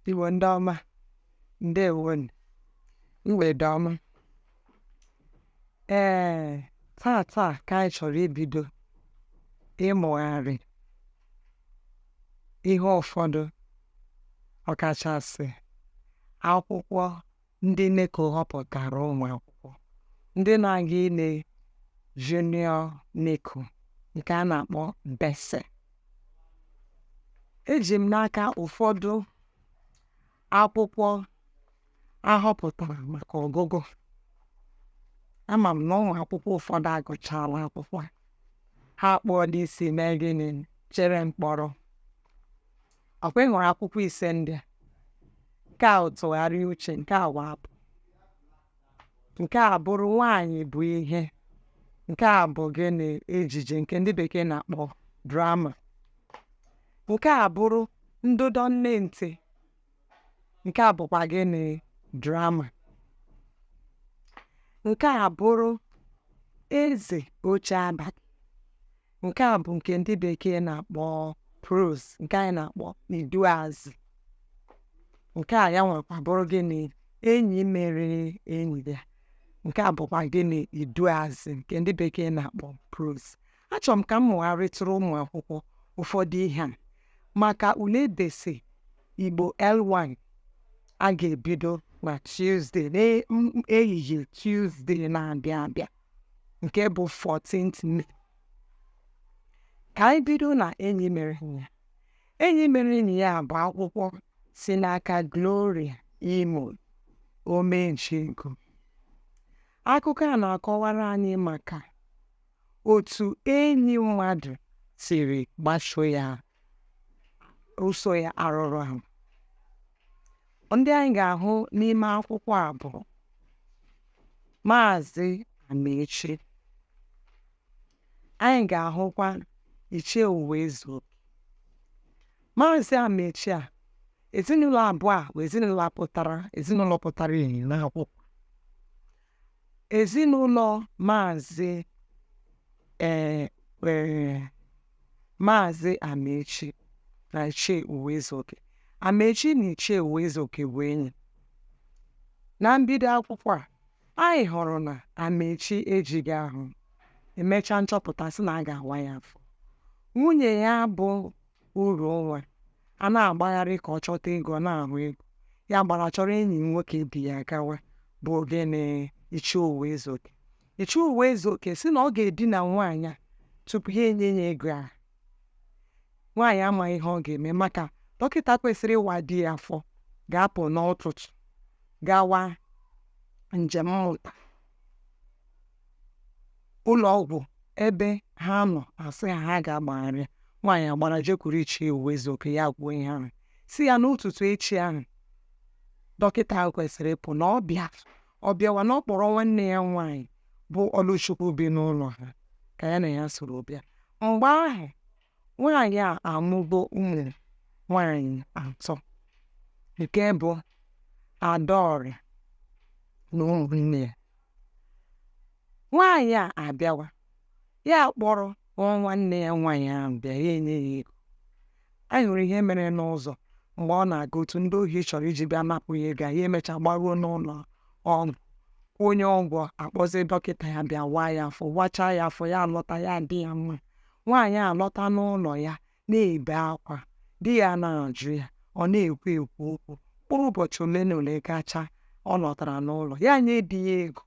Igbo ndị ọma ndewonụ mgbede ọma ee tata ka anyị chọrọ ibido ịmụgharị ihe ụfọdụ ọkachasị akwụkwọ ndị NECO họpụtara ụmụ akwụkwọ ndị na-aga ile junior NECO nke a na-akpọ BECE eji m n'aka ụfọdụ akwụkwọ a họpụtara maka ọgụgụ ama m na ụmụ akwụkwọ ụfọdụ agụchala akwụkwọ ha kpụọla isi mee gịnị chere mkpọrọ ọ kwa ị hụrụ akwụkwọ ise ndị a nke a tụgharịa uche nke a wụ abụ nke a bụrụ nwaanyị bụ ihe nke a bụ gịnị ejije nke ndị bekee na-akpọ drama nke a bụrụ ndụdọ nne ntị nke a bụkwa gịnị drama nke a bụrụ eze oche abalị nke a bụ nke ndị bekee na-akpọ prose nke anyị na-akpọ iduazị nke a ya nwekwa bụrụ gịnị enyi mere enyi ya nke a bụkwa gịnị iduazị nke ndị bekee na-akpọ prose achọrọ m ka m mụgharịtụrụ ụmụ akwụkwọ ụfọdụ ihe a maka ule BECE Igbo L1 a ga-ebido na Tuesday n'ehihie Tuesday na-abịa abịa nke bụ 14th May ka anyị bido na enyi mere enyi ya enyi mere enyi ya bụ akwụkwọ si n'aka Gloria Imo Omenchego akụkọ a na-akọwara anyị maka otu enyi mmadụ siri gbaso ya ụsọ ya arụrụ ahụ ndị anyị ga-ahụ n'ime akwụkwọ a bụ maazị amaechi anyị ga-ahụkwa ichie uwezu maazị amaechi a ezinụlọ abụọ a bụ ezinụlọ pụtara ezinụlọ pụtara ihe n'akwụkwọ Ezinụlọ Maazị ee ee Maazị Amaechi na Ichie Uwezuoke. Amaechi na Ichie Uwezuoke bụ enyi. Na mbido akwụkwọ a, anyị hụrụ na Amaechi ejighị ahụ e mechaa nchọpụta sị na a ga-awa ya afọ. Nwunye ya bụ uru o nwere a na-agbagharị ka ọ chọta ego ọ na-ahụ ego ya gbara chọrọ enyi nwoke di ya gawa bụ ogene ichie ụwaezuoke ichie ụwaezuoke si na ọ ga-edina nwaanyị a tupu ya enye ya ego ahụ nwaanyị amaghị ihe ọ ga-eme maka dọkịta kwesịrị ịwa di ya afọ ga-apụ n'ụtụtụ gawa njem mmụta ụlọ ọgwụ ebe ha nọ asị ha ha ga-agbagharị nwaanyị agbara jekwuru ichie ụwaezuoke ya kwuo ihe ahụ si ya n'ụtụtụ echi ahụ dọkịta ahụ kwesịrị ịpụ na ọ bịa ọ bịawa na ọ kpọrọ nwanne ya nwaanyị bụ ọlụchukwu bi n'ụlọ ha ka ya na ya soro bịa mgbe ahụ Nwaanyị a amụgo ụmụ nwaanyị atọ nke bụ Adaọra na ụmụnne ya. Nwaanyị a abịawa, ya akpọrọ nwanne ya nwaanyị ahụ bịa, ya enye ya ego. Anyị hụrụ ihe mere n'ụzọ mgbe ọ na-aga otu ndị ohi chọrọ iji bịa napụ ya ego a, ya emecha gbaruo n'ụlọ ọgwụ kwụnye ụgwọ akpọzie dọkịta ya bịa waa ya afọ wachaa ya afọ ya alọta ya adị ya mma Nwaanyị a lọta n'ụlọ ya na-ebe akwa, di ya na-ajụ ya, ọ na-ekwe ekwu okwu. Mkpụrụ ụbọchị ole na ole gacha, ọ lọtara n'ụlọ, ya nye di ya ego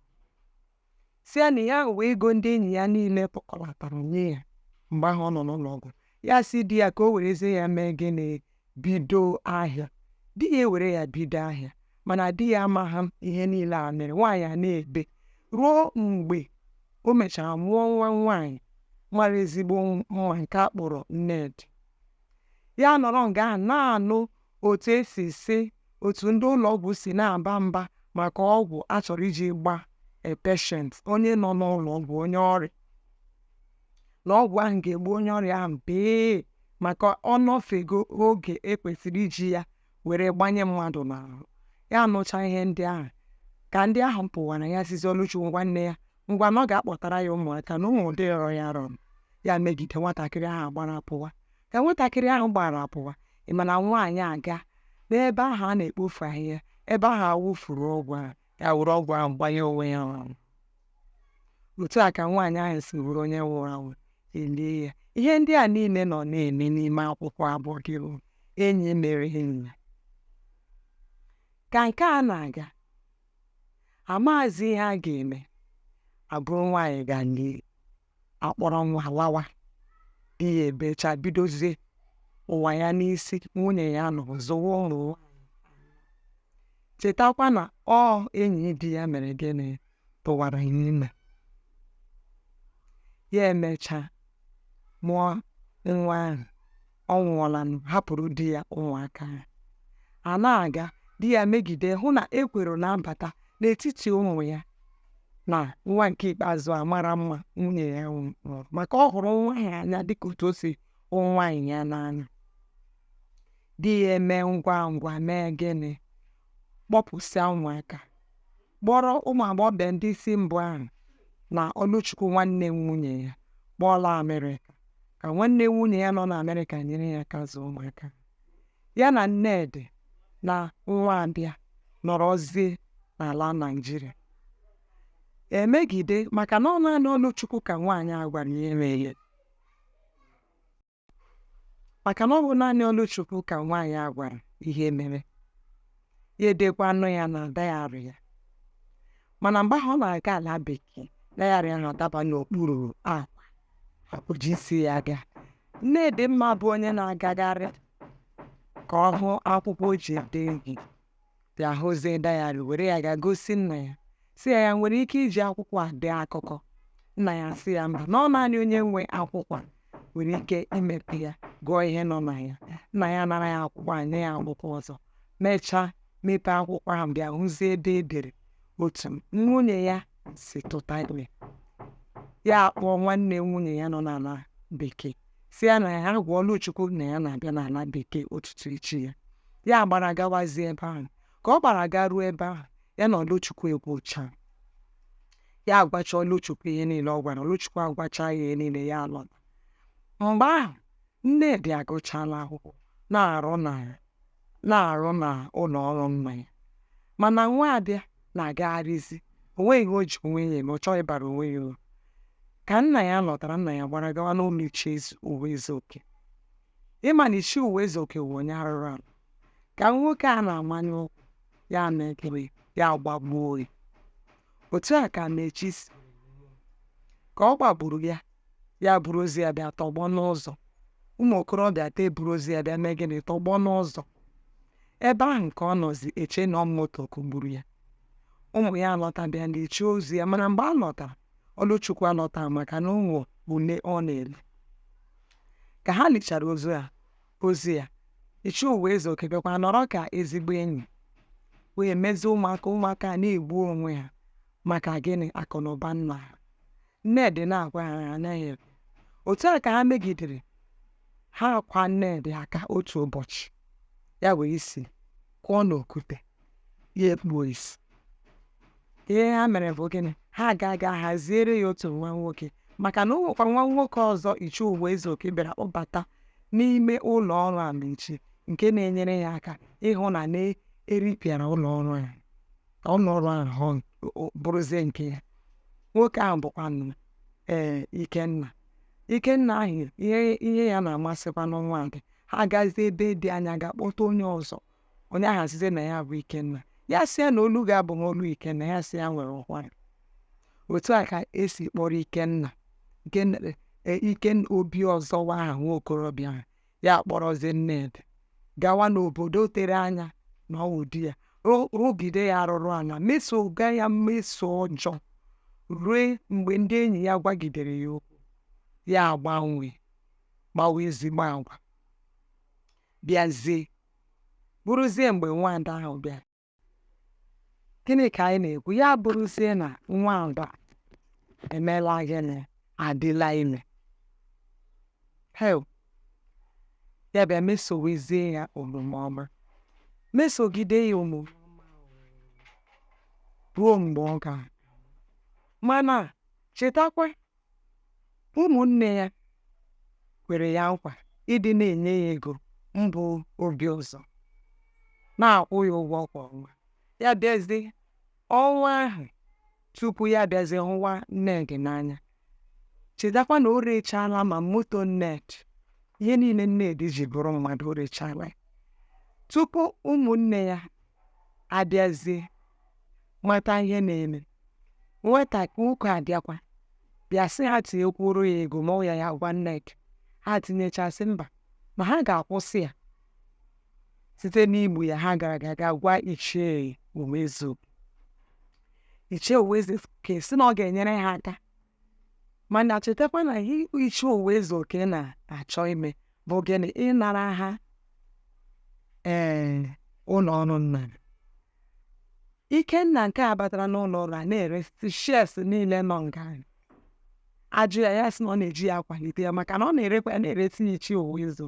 si ya na ya wee ego ndị enyi ya niile tụkọlatara nye ya mgbe ahụ ọ nọ n'ụlọ ọgwụ ya si di ya ka o werezie ya mee gịnị bido ahịa di ya ewere ya bido ahịa mana di ya amaghị ihe niile a mere nwaanyị a na-ebe ruo mgbe o mechara mụọ nwa nwaanyị mara ezigbo nwaanyị nke a kpọrọ Nnedi ya nọrọ nga ahụ na-anụ otu esi si otu ndị ụlọ ọgwụ si na-aba mba maka ọgwụ a chọrọ iji gbaa patient onye nọ n'ụlọ ọgwụ onye ọrịa na ọgwụ ahụ ga-egbu onye ọrịa ahụ bee maka ọ nọfego oge e kwesịrị iji ya were gbanye mmadụ n'ahụ ya nụcha ihe ndị ahụ ka ndị ahụ pụwara ya sizi ọlụchukwu nwanne ya ngwa na ọ ga-akpọtara ya ụmụaka na ụmụ ụdị rịọrọ ya rịọrọ ya megide nwatakịrị ahụ gbara pụwa ka nwatakịrị ahụ gbara pụwa ị ma na nwaanyị aga n'ebe ahụ a na-ekpofu ahịhịa ebe ahụ a wụfuru ọgwụ ahụ ya were ọgwụ ahụ gbanye onwe ya ahụ otu a ka nwaanyị ahụ si bụrụ onye nwụrụ anwụ e lie ya ihe ndị a niile nọ na-eme n'ime akwụkwọ a bụ ọ gị bụ enyi mere enyi ya ka nke a na-aga amazi ihe a ga-eme e buru nwaanyị gaa lie a kpọrọ nwa lawa ihe ebecha bidozie ụwa ya n'isi nwunye ya nọ zụwa ụmụ ya chetakwa na ọ enyi di ya mere gịnị tụwara ya ime ya emechaa mụọ nwa ahụ ọ nwụọlanụ hapụrụ di ya ụmụaka ya a na-aga di ya megide hụ na ekworo na-abata n'etiti ụmụ ya na nwa nke ikpeazụ a mara mma nwunye ya mụrụ maka ọ hụrụ nwa ya n'anya dịka otu o si hụ nwaanyị ya n'anya di ya eme ngwa ngwa mee gịnị kpọpụsịa ụmụaka kpọrọ ụmụ agbọghọbịa ndị isi mbụ ahụ na Ọlụchukwu nwanne nwunye ya kpọlaa Amerịka ka nwanne nwunye ya nọ n'Amerịka nyere ya aka zụọ ụmụaka ya na Nnedị na Nwabịa nọrọzie n'ala Naịjirịa emegide maka na ọ naanị Ọlụchukwu ka nwaanyị a gwara ihe mere ya maka na ọ bụ naanị Ọlụchukwu ka nwaanyị a gwara ihe mere ya edekwanụ ya na dayarị ya mana mgbe ahụ ọ na-aga ala bekee dayarị ya ahụ adaba n'okpuru akwa o jighịzi ya aga Nnedịmma bụ onye na-agagharị ka ọ hụ akwụkwọ o ji ede ihe bịa hụzie dayarị were ya ga gosi nna ya sị ya ya nwere ike iji akwụkwọ a dee akụkọ nna ya sị ya mba na ọ naanị onye nwe akwụkwọ a nwere ike imepe ya gụọ ihe nọ na ya nna ya nara ya akwụkwọ a nye ya akwụkwọ ọzọ mechaa mepee akwụkwọ ahụ bịa hụzie ebe e dere otu nwunye ya si tụta ime ya akpọọ nwanne nwunye ya nọ n'ala bekee sị ya na ya gwa Ọlụchukwu na ya na-abịa n'ala bekee ụtụtụ echi ya ya gbara gawazie ebe ahụ ka ọ gbara ga ruo ebe ahụ ya na Ọlụchukwu ekwucha ya agwacha Ọlụchukwu ihe niile ọ gwara Ọlụchukwu agwacha ya ihe niile ya alọta mgbe ahụ Nnedị agụchala akwụkwọ na-arụ na na-arụ na ụlọ ọrụ nna ya mana Nwabịa na-agagharịzi o nweghị ihe o ji onwe ya eme ọ chọghị ịbara onwe ya uru ka nna ya lọtara nna ya gbara gawa n'ụlọ Ichie Ụwaezuoke ị ma na Ichie Ụwaezuoke wụ onye arụrụ ala ka nwoke a na-amanye ụkwụ ya na-ekere ya gbagbuo ya otu a ka mechi si ka ọ gbagburu ya ya buru ozu ya bịa tọgbọ n'ụzọ ụmụ okorobịa ta eburu ozu ya bịa mee gịnị tọgbọ n'ụzọ ebe ahụ nke ọ nọzi eche na ọ moto kụgburu ya ụmụ ya alọta bịa na iche ozu ya mana mgbe ha lọtara Ọlụchukwu alọtaghị maka na ọ bụ ule ọ na-ele ka ha lichara ozu ya ozu ya Ichie Ụwaezuoke bịakwa nọrọ ka ezigbo enyi wee mezie ụmụaka ụmụaka na-egbu onwe ha maka gịnị akụ na ụba nna ha Nnedị na-agwa ha ha anaghị ekwe. Otu a ka ha megidere ha akwaa Nnedị aka otu ụbọchị ya ewee isi kụọ n'okwute ya ekpuo isi ihe ha mere bụ gịnị ha agaa ga haziere ya otu nwa nwoke maka na o nwekwara nwa nwoke ọzọ Ichie Ụwaezuoke bịara kpọbata n'ime ụlọ ọrụ Amaechi nke na-enyere ya aka ịhụ na na-eripịara ụlọ ọrụ ya ọ nọrọ ahụ bụrụzie nke ya nwoke ahụ bụkwanụ ee ikenna ikenna ahụ ihe ihe ya na-amasịkwanụ nwada ha agazie ebe dị anya ga kpọta onye ọzọ onye ahụ asịzie na ya bụ ikenna ya sị ya na olu gị abụghị olu ikenna ya sị ya nwere ụkwara otu a ka e si kpọrọ ikenna nke e, ikenna obiụzọ wụ aha nwa okorobịa ahụ ya kpọrọzie nnedị gawa n'obodo tere anya na ọ wụ di ya rụgide ya arụrụ ala mesoga ya mmeso ọjọọ rue mgbe ndị enyi ya gwagidere ya okwu ya agbanwe kpawa ezigbo agwa bịazie bụrụzie mgbe nwada ahụ bịara gịnị ka anyị na-ekwu ya bụrụzie na nwada emeela gịnị adịla ime hee ya bịa mesowezie ya omume ọma mesogide ya omume ruo mgbe ọ ga mana chetakwa Ụmụnne ya kwere ya nkwa ịdị na-enye ya ego m bụ obiụzọ na-akwụ ya ụgwọ kwa ọnwa ya bịazi ọnwa ahụ tupu ya bịazi hụwa nnedị n'anya chetakwa na o rechaala ma moto nnedị ihe niile nnedị ji bụrụ mmadụ o rechaala tupu ụmụnne ya abịazie mata ihe na-eme nwata nwoke abịakwa bịa sị ha tinyekwuoro ya ego ma ọ ya ya gwa nneka ha tinyecha sị mba ma ha ga-akwụsị ya site n'igbu ya ha gara ga ga gwa ichie ụwaezu ichie ụwaezuoke sị na ọ ga-enyere ha aka mana chetakwa na ihe ichie ụwaezuoke na-achọ ime bụ gịnị ịnara ha ee ụlọ ọrụ nnedị ikenna nke a batara n'ụlọ ọrụ a na-ere shares niile nọ nga ahụ. a jụọ ya ya sị na ọ na-eji ya akwalite ya maka na ọ na-erekwa ya na-eresị ya ichie ụwaezu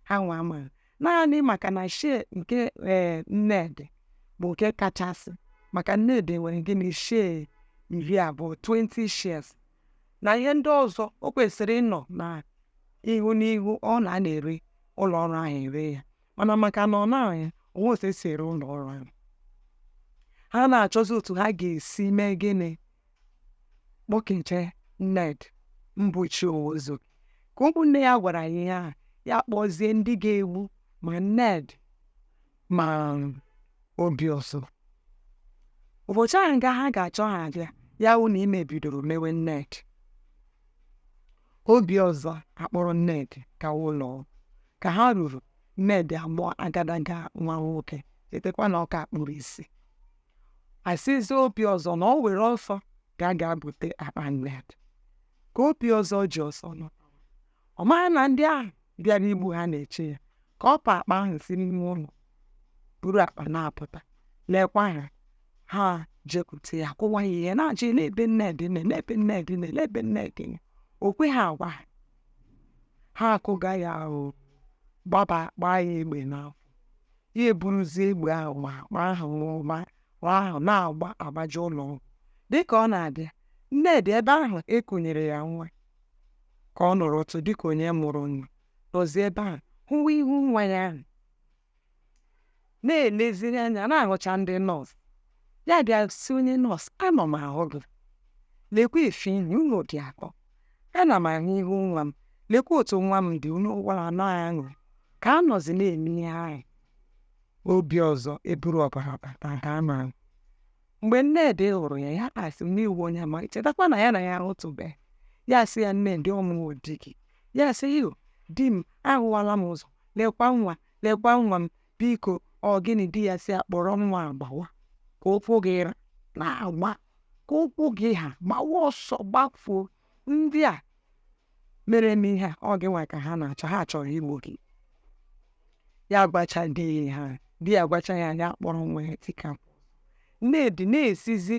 ha nwa ama naanị maka na share nke ee eh, nnedị bụ nke kachasị maka nnedị nwere gịnị share iri abụọ 20 shares na ihe ndị ọzọ o kwesịrị ịnọ na ihu n'ihu ọ na na-ere ụlọ ọrụ ahụ ere ya mana maka na ọ nọghị ya o nweghị otu e si ere ụlọ ọrụ ahụ ha na-achọzi otu ha ga-esi mee gịnị kpọkete Nnedi mbọchị ọzọ ka ụmụnne ya gwara ya ihe a ya kpọzie ndị ga-egbu ma Nnedi ma Obiọzọ ụbọchị ahụ nga ha ga-achọ ha abịa ya wụ na ime bidoro mewe Nnedi Obiọzọ akpọrọ Nnedi gawa ụlọ ọgwụ. ka ha ruru Nnedi amụọ agadaga nwa nwoke chetakwa na ọ ka kpuru isi asịzi Obiọzọ na ọ were ọsọ gaa ga-ebute akpa nne ya ka Obiọzọ ji ọsọ nọ ọ maghị na ndị ahụ bịara igbu ha na-eche ya ka ọ pa akpa ahụ si n'ime ụlọ buru akpa na-apụta lekwa ha ha jekwute ya kụwa ya ihe na-ajụ ya lee ebe Nnedi nọ lee ebe Nnedi nọ lee ebe Nnedi nọ o kweghị agwa ha ha akụkaa ya ahụ gbaba gbaa ya egbe n'afọ ya eburuzie egbe ahụ ma akpa ahụ ma ma ahụ na-agba agbaje ụlọ ọgwụ dịka ọ na-abịa Nnedi ebe ahụ e kunyere ya nwa ka ọ nọrọ ọdụ dịka onye mụrụ nwa nọzi ebe ahụ hụwa ihu nwa ya ahụ na-eleziri anya na-ahụcha ndị nọọsụ ya bịa sị onye nọọsụ ana m ahụ gị lekwa efe ihe unu dị akọ ana m ahụ ihu nwa m lekwa otu nwa m dị unu gwara anọ aṅụ ka a nọzi na-eme ihe ahụ Obiọzọ eburu ọbara bata nke a ma mgbe Nnedi hụrụ ya ya asị na ị wụ onye ama chetakwa na ya na ya ahụtụbeghị ya sị ya Nnedi ọ wụ mụ di gị ya sị ya di m ahụwala m ụzọ lekwa nwa lekwa nwa m Biko, ọ gịnị di ya sị ya kpọrọ nwa a gbawa ka ụkwụ gị ra na-agba ka ụkwụ gị ha gbawa ọsọ gbafuo ndị a mere m ihe a ọ gịnwa ka ha na-achọ ha chọrọ igbu gị ya gwacha di ya ha di ya gwacha ya ya kpọrọ nwa ya tikapụ Nnedi na-esizi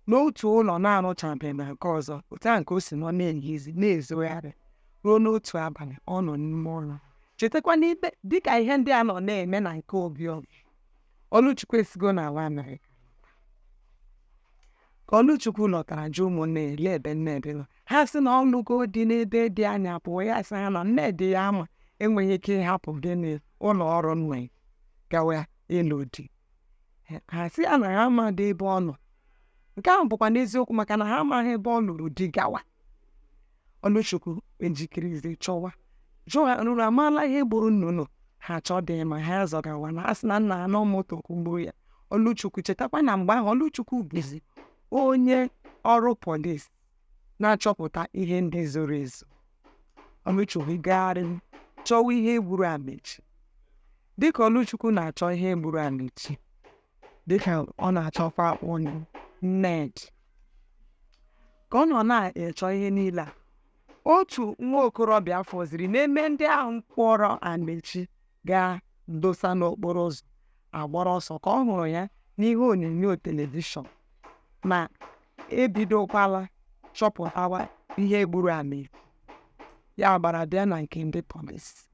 n'otu ụlọ na-arụchabeghị na nke ọzọ otu ahụ ka o si nọ na-ehizi na-ezogharị ruo n'otu abalị ọ nọ n'ime ụlọ chetakwa n'ime dịka ihe ndị a nọ na-eme na nke obi ọlụchukwu esigo n'ala amerịka ka ọlụchukwu lọtara jụ ụmụnne ya lee ebe Nnedi nọ ha sị na ọ lụgo di n'ebe dị anya pụọ ya sị ha na Nnedi ya ma enweghị ike ịhapụ gịnị ụlọ ọrụ nwe gawa ịlụ di ha ha asị ya na ha amaghị ebe ọ nọ nke ahụ bụkwa n'eziokwu maka na ha amaghị ebe ọ lụrụ di gawa ọlụchukwu ejikerezi chọwa jụ ha unu amaala ihe gburu nna unu ha achọdịghị ịma ha zọgawa na a sị na nna ha na ọ moto kụgburu ya ọlụchukwu chetakwa na mgbe ahụ ọlụchukwu bụzi onye ọrụ polis na-achọpụta ihe ndị zoro ezo ọlụchukwu gagharị chọwa ihe gburu amechi dịka ọlụchukwu na-achọ ihe gburu amechi ka ọ na-achọkwa nnedị ka ọ nọ na-achọ ihe niile a otu nwa okorobịa fọziri n'ime ndị ahụ kpọrọ amechi gaa dosa n'okporo ụzọ agbara ọsọ ka ọ hụrụ ya n'ihe onyonyo telivishọn ma ebidokwala chọpụtawa ihe gburu amechi ya gbara bịa na nke ndị polisi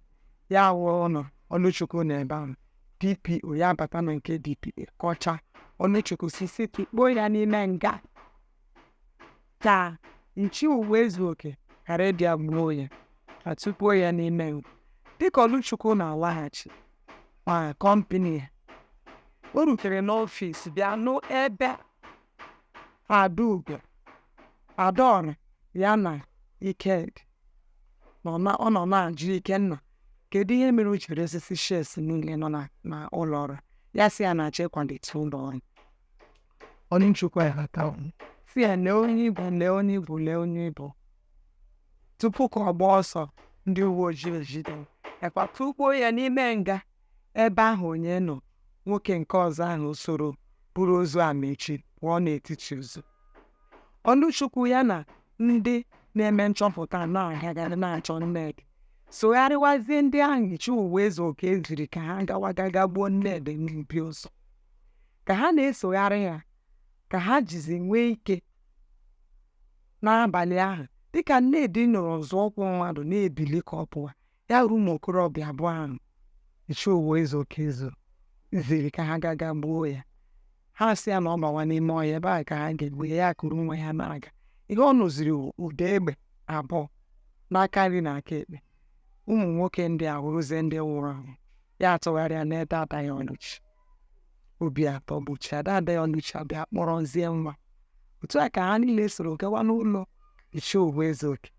ya wụrụ na ọlụchukwu nọ ebe ahụ dpo ya bata na nke dpo kọcha ọlụchukwu sisi tụkpọọ ya n'ime nga ka ichie ụwaezuoke ghara ịbịa gbuo ya ma tụkpọọ ya n'ime nga dịka ọlụchukwu na-alaghachi na kọmpịnị ya o rutere n'ọfịs bịa nụ ebe Adaugo, Adaọra ya na Ikenna nọ na ọ nọ na-ajụ Ikenna kedu ihe mere o ji resịsị shares niile nọ na na ụlọ ọrụ ya sị ya na-achọ ịkwalite ụlọ ọrụ Ọlụchukwu aghọta sị ya lee onye ị bụ lee onye ị bụ lee onye ị bụ tupu ka ọ gbaa ọsọ ndị uwe ojii ejide ya kwa tụkpọọ ya n'ime nga Ebe ahụ onye nọ, nwoke nke ọzọ ahụ soro buru ozu Amaechi pụọ n'etiti ụzọ. Ọlụchukwu ya na ndị na-eme nchọpụta na-agagharị na-achọ Nnedị sogharịwazie ndị ahụ Ichie Ụwaezuoke ziri ka ha gawa ga gbuo Nnedị n'ebe o zoro. Ka ha na-esogharị ya ka ha jizi nwee ike n'abalị ahụ dịka Nnedị nụrụ nzọụkwụ mmadụ na-ebili ka ọ pụwa ya wụrụ ụmụ okorobịa abụọ ahụ ichie ụwaezuoke ziziri ka ha ga ga gbuo ya ha sị ya na ọ bawa n'ime ọhịa ebe a ka ha ga-egbu ya ya kuru nwa ya na-aga ihe ọ nụziri ụda egbe abụọ n'aka nri na aka ekpe ụmụ nwoke ndị a wụrụzie ndị nwụrụ anwụ ya atụgharịa lee dada ya ọlụchi obi atọgbuchie ya dada ya ọlụchi abịa kpọrọzie nwa otu a ka ha niile soro gawa n'ụlọ ichie ụwaezuoke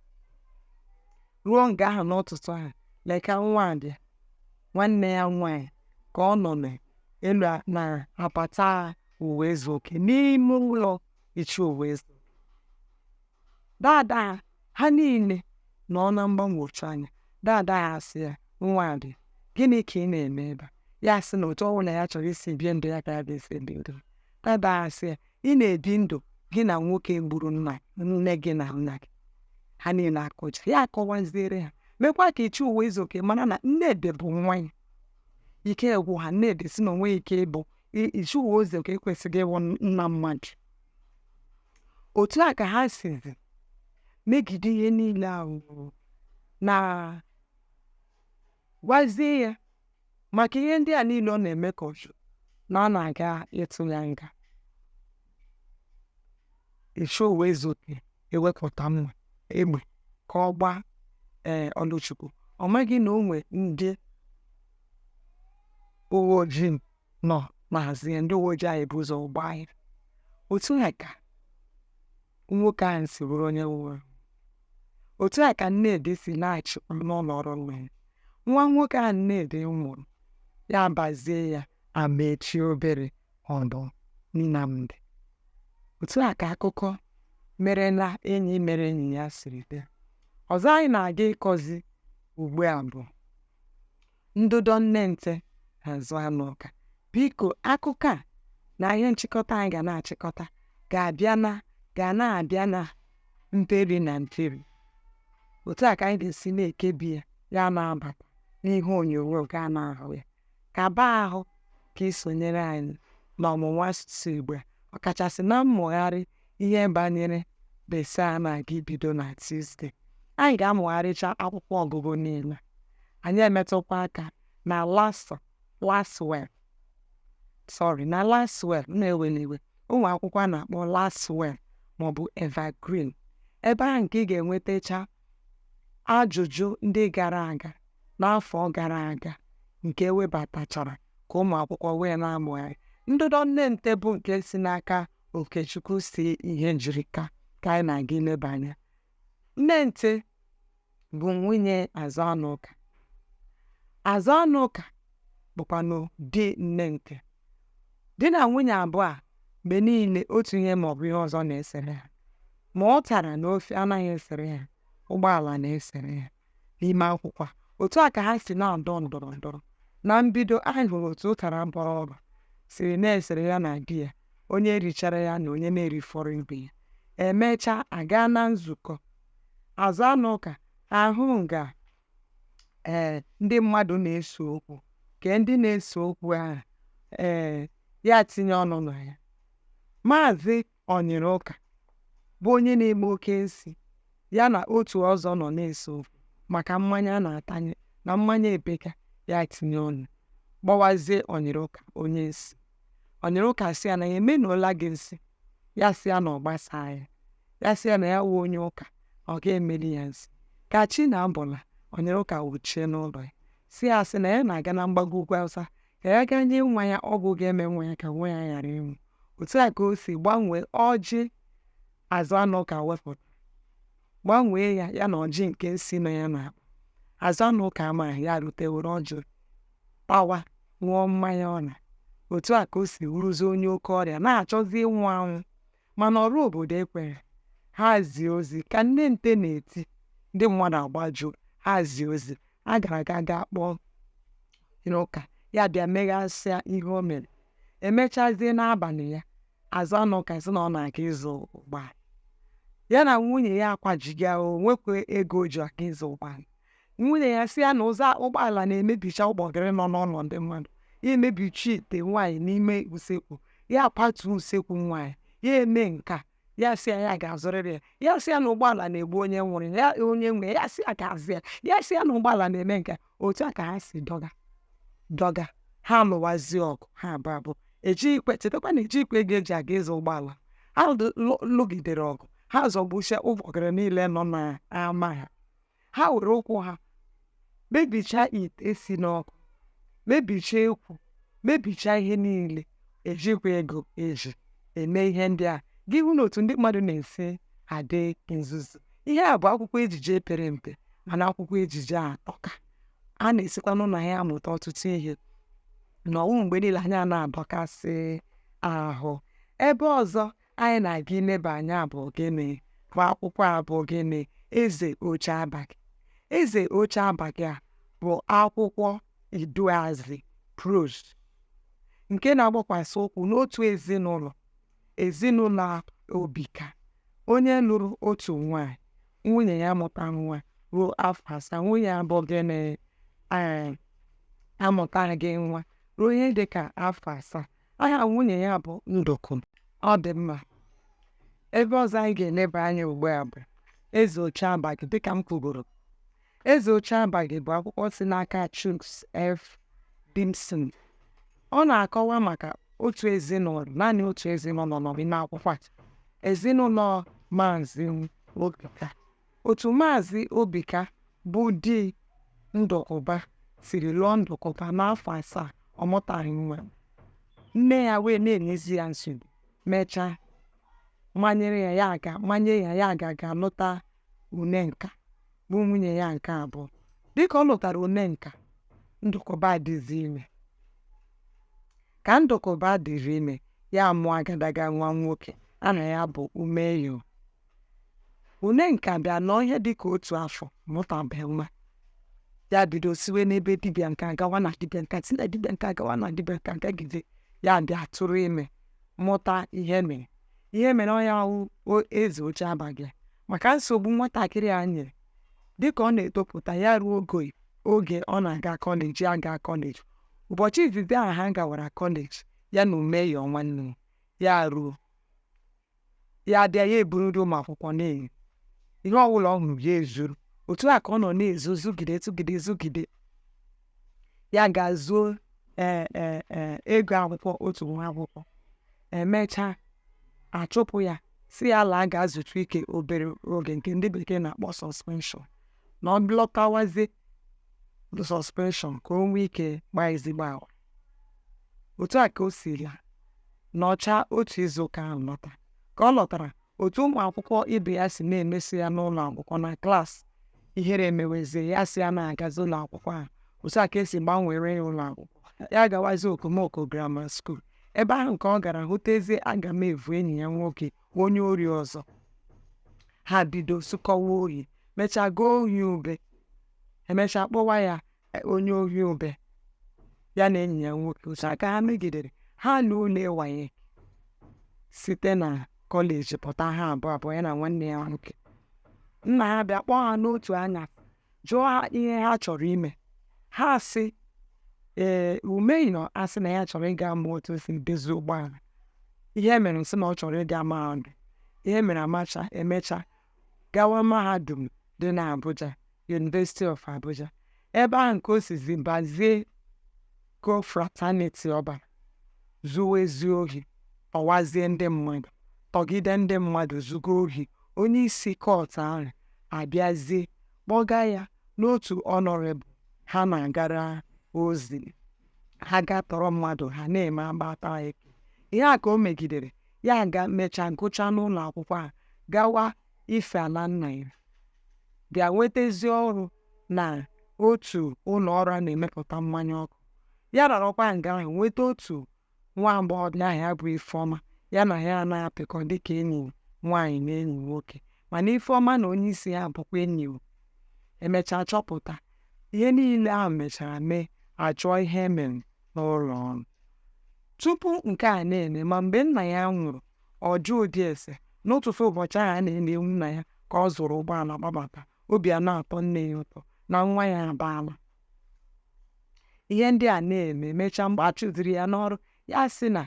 ruo nga ahụ n'ụtụtụ ahụ lekwa nwadị nwanne ya nwaanyị ka ọ nọ n'elu n'apata ụwaezuoke n'ime ụlọ ichie ụwaezu dada ha niile nọ na mgbagwoju anya dada ha asị ya nwadị gịnị ka ị na-eme ebe a ya sị na otu ọbụla ya chọrọ isi bie ndụ ya ka ya ga-esi ebi ndụ dada ha sị ya ị na-ebi ndụ gị na nwoke gburu nna nne gị na nna gị ha niile akụja ya akọwaziere ha mekwa ka Ichie Ụwaezuoke mara na Nnedi bụ nwa ya ike agwụ ha Nnedi sị na o nweghị ike ịbụ Ichie Ụwaezuoke ekwesịghị ịwụ nna mmadụ otu a ka ha sizi megide ihe niile ahụ na gwazie ya maka ihe ndị a niile ọ na-eme ka ọ hụ na a na-aga ịtụ ya nga Ichie Ụwaezuoke ewepụta mma egbe ka ọ gbaa ee Ọlụchukwu ọ maghị na o nwe ndị uwe ojii nọ n'azụ ya ndị uwe ojii ahụ ebu ụzọ gbaa ya otu a ka nwoke ahụ si bụrụ onye nwụrụ anwụ otu a ka Nnedi si laghachikwa n'ụlọ ọrụ nna ya nwa nwoke ahụ Nnedi mụrụ ya bazie ya Amaechi obere ọdụ Nnamdi otu a ka akụkọ mere na Enyi Mere Enyi Ya siri bie ọzọ anyị na-aga ịkọzi ugbu a bụ Ndọdọ Nnente Azụanụka biko akụkọ a na ihe nchịkọta anyị ga na-achịkọta ga-abịa na ga na-abịa na mperi na mperi otu a ka anyị ga-esi na-ekebi ya ya na-abata n'ihe onyonyo ga na-ahụ ya ka baa ahụ ka i sonyere anyị n'ọmụmụ asụsụ Igbo ọkachasị na mmụgharị ihe banyere BECE a na-aga ibido na Tuesday. Anyị ga-amụgharịcha akwụkwọ ọgụgụ niile. Anyị emetụkwa aka na Lasso, Laswell, sorry, na Laswell, m na-eweli iwe, ụmụ akwụkwọ a na-akpọ Laswell ma ọ bụ Evergreen. Ebe ahụ ka ị ga-enwetacha ajụjụ ndị gara aga n'afọ gara aga nke e webatachara ka ụmụ akwụkwọ wee na-amụgharị. Ndọdọ Nnente bụ nke si n'aka Okechukwu C Ihejirika ka anyị na-aga ileba anya Nnente bụ nwunye Azụanụka Azụanụka bụkwanụ di Nnente di na nwunye abụọ a mgbe niile otu ihe ma ọ bụ ihe ọzọ na-esere ha ma ụtara na ofe anaghị esere ha ụgbọala na-esere ha n'ime akwụkwọ a otu a ka ha si na-adọ ndọrọ ndọrọ na mbido anyị hụrụ otu ụtara bọrọ ọra siri na-esere ya na di ya onye richara ya na onye na-erifọrọ ibe ya e mechaa a gaa na nzukọ Azụanụka ahụ nga ee ndị mmadụ na-ese okwu ka ndị na-ese okwu ahụ ee ya tinye ọnụ na ya maazị ọnyịrị ụka bụ onye na-eme oke nsi ya na otu ọzọ nọ na-ese okwu maka mmanya a na-atanye na mmanya epeka ya tinye ọnụ gbawazie ọnyịrị ụka onye nsi ọnyịrị ụka sị ya na ya emenụla gị nsi ya sị ya na ọ gbasaa ya ya sị ya na ya wụ onye ụka ọ ga-emeli ya nsi ka chi na-abọla ọnyịrị ụka wuchie n'ụlọ ya sị ya sị na ya na-aga na mgbago ugwu awụsa ka ya gaa nye nwa ya ọgwụ ga-eme nwa ya ka nwa ya ghara ịnwụ otu a ka o si gbanwee ọjị Azụanụka wepụta gbanwee ya ya na ọjị nke nsi nọ ya n'akpa Azụanụka ama ya rute were ọjị tawa ṅụọ mmanya ọ laa otu a ka o si wụrụzie onye oke ọrịa na-achọzi ịnwụ anwụ Mana ọrụ obodo ekweghị ha zie ozi ka nne nte na-eti ndị mmadụ agbajuo ha zie ozi a gara aga gaa kpọọ onye ụka ya bịa meghasịa ihe o mere e mechazie n'abalị ya Azụanụka sị na ọ na-aga ịzụ ụgbọala ya na nwunye ya akwajiga o nwekwa ego o ji aga ịzụ ụgbọala nwunye ya sị ya na ọ zụọ ụgbọala na-emebicha ụgbọgịrị nọ n'ụlọ ndị mmadụ ya emebichaa ite nwaanyị n'ime usekwu ya patuo usekwu nwaanyị ya emee nke a ya sị ya ya ga-azụrịrị ya ya sị ya na ụgbọala na-egbu onye nwere ya onye nwe ya sị ya ga-azụ ya ya sị ya na ụgbọala na-eme nke a otu a ka ha si dọgaa dọgaa ha lụwazie ọgụ ha abụọ abụọ ejikwe chetakwa na ejikwe ego e ji aga ịzụ ụgbọala ha lụgidere ọgụ ha zọgbuchie ụgbọgịrị niile nọ n'ama ha ha were ụkwụ ha mebichaa ite e si n'ọkụ mebichaa ekwu mebichaa ihe niile ejikwa ego e ji eme ihe ndị a gị hụna otu ndị mmadụ na-esi adị nzuzu ihe a bụ akwụkwọ ejije pere mpe mana akwụkwọ ejije atọka a na-esikwanụ na ya amụta ọtụtụ ihe na ọ wụghị mgbe niile anyị a na-adọkasị ahụ ebe ọzọ anyị na-aga ileba anya bụ gịnị bụ akwụkwọ a bụ gịnị eze oche abaghị eze oche abaghị a bụ akwụkwọ iduuazị prose nke na-agbakwasị ụkwụ n'otu ezinụlọ ezinụlọ Obika onye lụrụ otu nwaanyị nwunye ya mụta nwa ruo afọ asaa nwunye ya bụ gịnị amụtaghị nwa ruo ihe dị ka afọ asaa aha nwunye ya bụ Ndụkụ ọ dị mma ebe ọzọ anyị ga-eleba anya ugbu a bụ eze oche abaghị dịka m kwugoro eze oche abaghị bụ akwụkwọ si n'aka Chuks F. Dimson ọ na-akọwa maka otu ezinụlọ naanị otu ezinụlọ nọ n'ime akwụkwọ a ezinụlọ maazị Obika Otu Maazị Obika bụ di Ndụkụba siri lụọ Ndụkụba n'afọ asaa ọ mụtaghị nwa. Nne ya wee na-enyezi ya nsogbu. Mechaa, manyere ya ya aga manye ya ya aga ga lụta Unenka bụ nwunye ya nke abụọ. Dịka ọ lụtara Unenka, Ndụkụba adịzi ime. Ka Ndụkụba dịrị ime, ya amụọ agadaga nwa nwoke aha ya bụ Umeyo. Unenka bịa nọọ ihe dị ka otu afọ mụtabeghị nwa. Ya bido siwe n'ebe dibịa nke a gawa na dibịa nke a si na dibịa nke a gawa na dibịa nke a gagide ya bịa tụrụ ime mụta Ihemere. Ihemere ọ ya wụ eze oche abaghị maka nsogbu nwatakịrị a nyere dịka ọ na-etopụta ya ruo ogo oge ọ na-aga kọleji aga kọleji ụbọchị izizi ahụ ha gawara kọleji ya na Umeyo nwanne ya ruo ya abịa ya eburu nri ụmụ akwụkwọ na-eri ihe ọbụla ọ hụrụ ya ezuru otu a ka ọ nọ na-ezu zugide zugide zugide ya ga zuo ee ee ee ego akwụkwọ otu nwa akwụkwọ emechaa achụpụ ya sị ya laa gaa zutu ike obere oge nke ndị bekee na-akpọ suspension na ọ lọtawazie suspension ka o nwee ike kpaa ezigbo agwa otu a ka o si laa nọchaa otu izu ụka ahụ lọta ka ọ lọtara otu ụmụ akwụkwọ ibe ya si na-emeso ya n'ụlọ akwụkwọ na class ihere emewezie ya sị ya na-agazi ụlọ akwụkwọ ahụ otu a ka e si gbanweere ya ụlọ akwụkwọ ya gawazi Okomoko Grammar School ebe ahụ ka ọ gara hụtezie Agamevu enyi ya nwoke onye ori ọzọ ha bido zukọwa ohi mechaa zuo ohi ube emechaa kpọwa ya onye ohi ube ya na enyi ya nwoke otu a ka ha megidere ha na ule WAEC site na kọleji pụta ha abụọ abụọ ya na nwanne ya nwoke nna ha bịa kpọọ ha n'otu anya jụọ ha ihe ha chọrọ ime ha sị ee Umeyo asị na ya chọrọ ịga mụ otu e si edozi ụgbọala Ihemere sị na ọ chọrọ ịga mahadum Ihemere emechaa emechaa gawa mahadum dị n'Abuja University of Abuja ebe ahụ nke o sizi bazie confraternity ọ bara zuwazie ohi tọwazie ndị mmadụ tọgide ndị mmadụ zugo ohi onye isi cult ahụ abịazie kpọga ya n'otu honourable ha na-agara ozi ha ga-atọrọ mmadụ ha na-eme agbata ekee ihe a ka o megidere ya ga mechaa gụchaa n'ụlọ akwụkwọ a gawa ife ala nna ya bịa nwetazie ọrụ na otu ụlọ ọrụ a na-emepụta mmanya ọkụ ya nọrọkwa nga ahụ nweta otu nwa agbọghọbịa aha ya bụ ifeọma ya na ya anaghị apịkọ dịka enyi nwaanyị na enyi nwoke mana ifeọma na onye isi ya bụkwa enyi emechaa chọpụta ihe niile ahụ mechara mee achụọ ihemere n'ụlọ ọrụ. Tupu nke a na-eme, ma mgbe nna ya nwụrụ, ọ jụụ dị ese. N'ụtụtụ ụbọchị ahụ a na-eli ewu nna ya ka ọ zụrụ ụgbọala gbabata. Obi a na-atọ nne ya ụtọ na nwa ya abaala. Ihe ndị a na-eme mechaa mgbe a chụziri ya n'ọrụ, ya sị na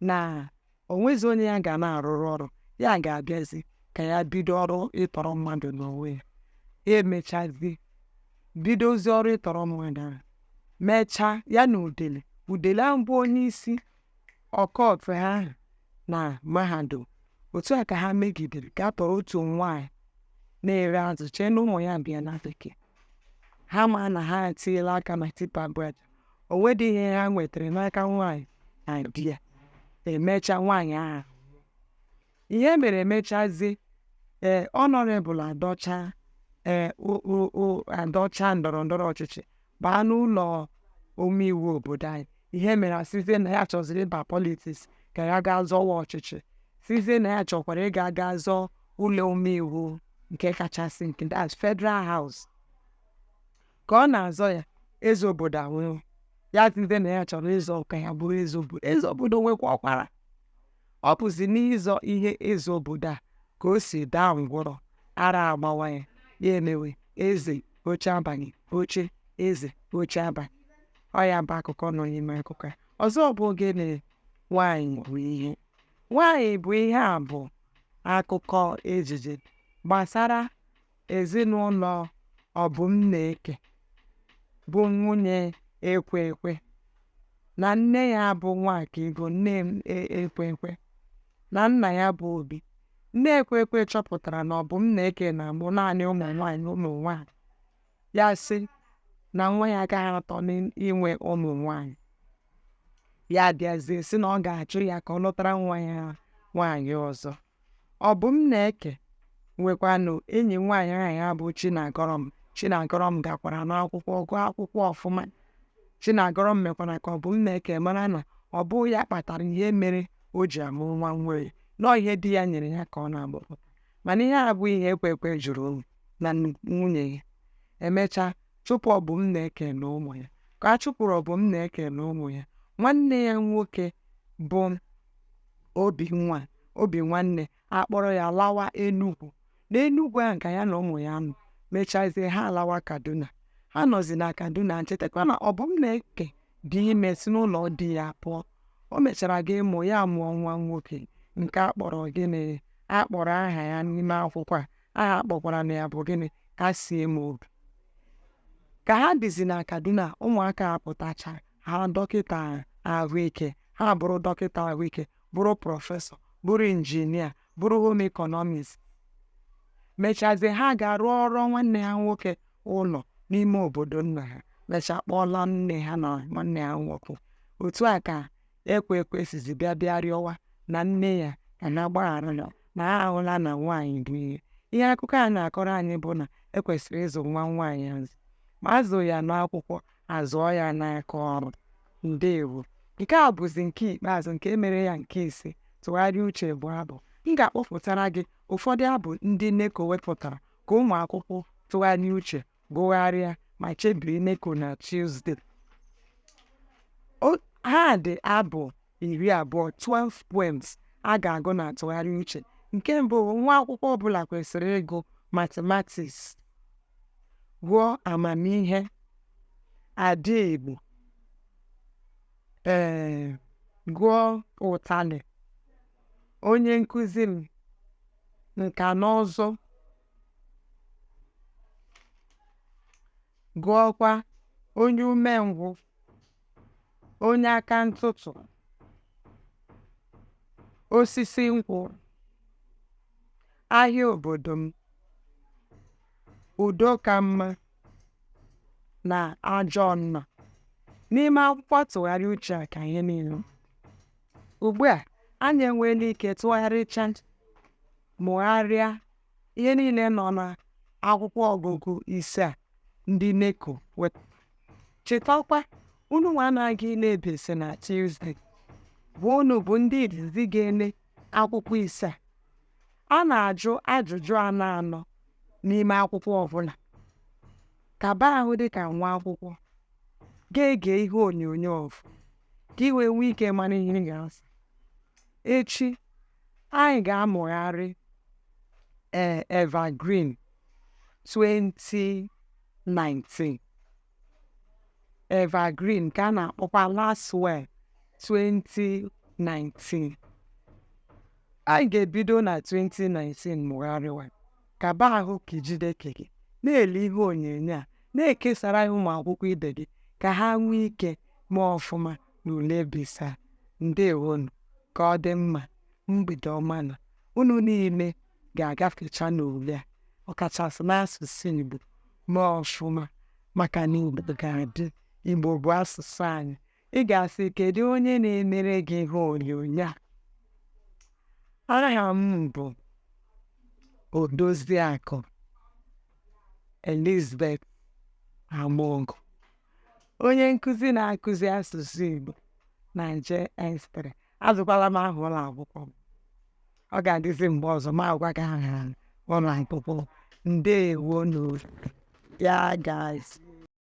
na o nwezi onye ya ga na-arụrụ ọrụ ya ga-abịazi ka ya bido ọrụ ịtọrọ mmadụ n'onwe ya ya emechazi bidozi ọrụ ịtọrọ mmadụ ahụ mechaa ya na udele udele ahụ bụ onye isi ọkọfe ha ahụ na mahadum otu a ka ha megidere ka ha tọrọ otu nwaanyị na-ere azụ chee na ụmụ ya bi na bekee ha ma na ha etinyela aka na tipa bred o nwedị ihe ha nwetara n'aka nwaanyị na di ya emecha nwaanyị ahụ ihemere emechazi ee honourable adọcha ee o- o- o- adọcha ndọrọ ndọrọ ọchịchị baa n'ụlọ omeiwu obodo anyị ihemere asịzie na ya chọziri ịba politics ka ya gaa zọwa ọchịchị sịzie na ya chọkwara ịga gaa zọọ ụlọ omeiwu nke kachasị nke that's federal house ka ọ na-azọ ya eze obodo anwụọ ya sịzie na ya chọrọ ịzọ ka ya bụrụ eze obodo eze obodo nwekwa ọkwara ọ bụzi n'ịzọ ihe eze obodo a ka o si daa ngwụrọ ara agbawa ya ya emewe eze oche abalị oche eze oche abalị ọ ya bụ akụkọ nọ n'ime akụkọ ya ọzọ bụ gịnị nwaanyị bụ ihe nwaanyị bụ ihe a bụ akụkọ ejije gbasara Ezinụlọ Obumneke bụ nwunye Ekwekwe na nne ya bụ Nwakaego nne Ekwekwe na nna ya bụ Obi. Nne Ekwekwe chọpụtara na Obumneke na-amụ naanị ụmụ nwaanyị ụmụ nwaanyị ya sị na nwa ya agaghị atọ n'inwe ụmụ nwaanyị ya bịazie sị na ọ ga-achụ ya ka ọ lụtara nwa ya nwaanyị ọzọ Obumneke nwekwanụ enyi nwaanyị aha ya bụ Chinagọrọm Chinagọrọm gakwara n'akwụkwọ gụọ akwụkwọ ọfụma Chinagọrọm mekwara ka Obumneke mara na ọ bụ ya kpatara ihe mere o ji amụ nwa nwaanyị na ọ bụ ihe di ya nyere ya ka ọ na-amụpụta mana ihe a bụ ihe Ekwekwe jụrụ ịnụ na nwunye ya emechaa chụpụ Obumneke na ụmụ ya ka a chụpụrụ Obumneke na ụmụ ya nwanne ya nwoke bụ obi nwa obi nwanne akpọrọ ya lawa Enugwu na Enugwu ahụ ka ya na ụmụ ya nọ mechazie ha alawa Kaduna ha nọzi na Kaduna chetakwa na Ọbụmnaeke dị ime si n'ụlọ di ya pụọ o mechara gaa mụọ ya mụọ nwa nwoke nke a kpọrọ gịnị a kpọrọ aha ya n'ime akwụkwọ a aha a kpọkwaranụ ya bụ gịnị Kasiemobi ka ha dịzi na Kaduna ụmụaka ha pụtacha ha dọkịta ahụike ha bụrụ dọkịta ahụike bụrụ prọfesọ bụrụ injinia bụrụ home economics mechazie ha gaa rụọrọ nwanne ha nwoke ụlọ n'ime obodo nna ha mechaa kpọọla nne ha na nwanne ha nwoke otu a ka ekwe ekwe sizi bịa bịa rịọwa nwunye ya ka ọ gbaghara ya na ha ahụla na nwaanyị bụ ihe ihe akụkọ a na-akọrọ anyị bụ na e kwesịrị ịzụ nwa nwaanyị azụ ma a zụọ ya n'akwụkwọ a zụọ ya n'aka ọrụ ndewo nke a bụzi nke ikpeazụ nke mere ya nke ise tụgharịa uche bụ abụ m ga-akpọpụtara gị ụfọdụ abụ ndị NECO wepụtara ka ụmụ akwụkwọ tụgharịa uche gụgharịa ma chebiri NECO na Tuesday ha dị abụ iri abụọ 12 poems a ga-agụ na tụgharịa uche nke mbụ nwa akwụkwọ ọbụla kwesịrị ịgụ matematiks gụọ amamihe ndị Igbo ee eh, gụọ ụtalị onye nkụzi m nka na ụzụ Gụọkwa onye umengwụ, onye aka ntụtụ, osisi nkwụ, ahịa obodo m, udo ka mma na ajọ nna. N'ime akwụkwọ tụgharịa uche a ka ihe niile. Ugbu a, anyị enweela ike tụgharịcha Mụgharịa ihe niile nọ n'akwụkwọ ọgụgụ ise a ndị NECO wepụtara. Chetakwa, unu nwa na-aga ile BECE na Tuesday, bụ unu bụ ndị izizi ga-ele akwụkwọ ise a. A na-ajụ ajụjụ anọ anọ n'ime akwụkwọ ọbụla. Kaba ahụ dị ka nwa akwụkwọ ga-ege ihe onyonyo ọfụ ka i wee nwee ike mara ihe ị ga-asa. Echi, Anyị ga-amụgharị ee Evergreen 2019 Evergreen ka a na-akpọkwa Lasswell 2019 anyị ga-ebido na 2019 mụgharịwa kaba ahụ ka i jide ka i ji na-ele ihe onyonyo a na-ekesara ya ụmụ akwụkwọ ibe gị ka ha nwee ike mee ọfụma na ule BECE ndewonu ka ọ dị mma mgbede ọma na unu niile ga-agafecha n'ule a ọkachasị n'asụsụ Igbo mee ọfụma maka na Igbo ga-adị Igbo bụ asụsụ anyị ị ga-asị kedu onye na-emere gị ihe onyonyo a aha m bụ Odoziakụ Elizabeth Amogu onye nkụzi na-akụzi asụsụ Igbo na JS three ajụkwala m aha ụlọ akwụkwọ m ọ ga-adịzi mgbe ọzọ m agwa gị aha ụlọ akwụkwọ ndewonu ya gazie